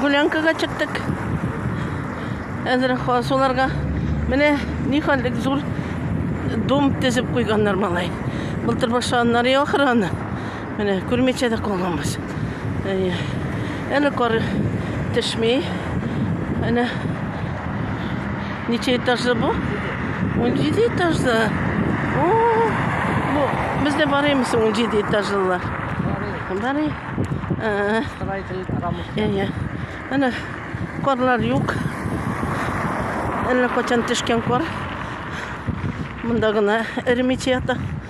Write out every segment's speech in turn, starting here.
Гулянкага чыктык. Әзер хасуларга менә ни хәлдек зур дом тезеп куйганнар малай. Былтыр башлаганнар я охрана. Менә күрмичә дә калганбыз. Әле кар төшми. Әнә ничә этажлы бу? 17 этажлы. О, бу без дә барыймыз 17 этажлы. Барый. Э. Строитель рамус. Әйе. Әнә карлар юк. Әллә качан төшкән кар. Монда гына эремичә ята.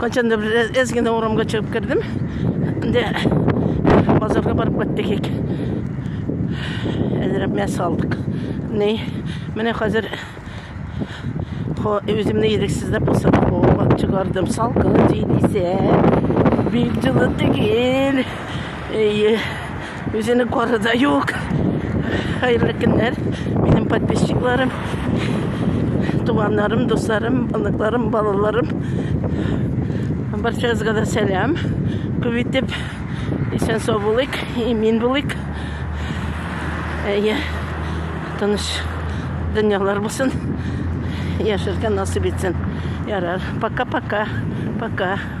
Качан да бер әз генә урамга чыгып кердем. Инде базарга барып кайттык ик. Әзрәк мәс алдык. Ни, менә хәзер үземне ирексез дә булса да ковага чыгардым. Салкын җил исә, бик җылы түгел. Әйе. Үзенең коры да юк. Хәерле көннәр, минем подписчикларым, туганнарым, дусларым, оныкларым, балаларым. Барчагызга да сәлам. Күп итеп исән сау булыйк, имин булыйк. Әйе, тыныч дөньялар булсын. Яшәргә насыйп итсен. Ярар. Пока-пока. Пока. -пока. Пока.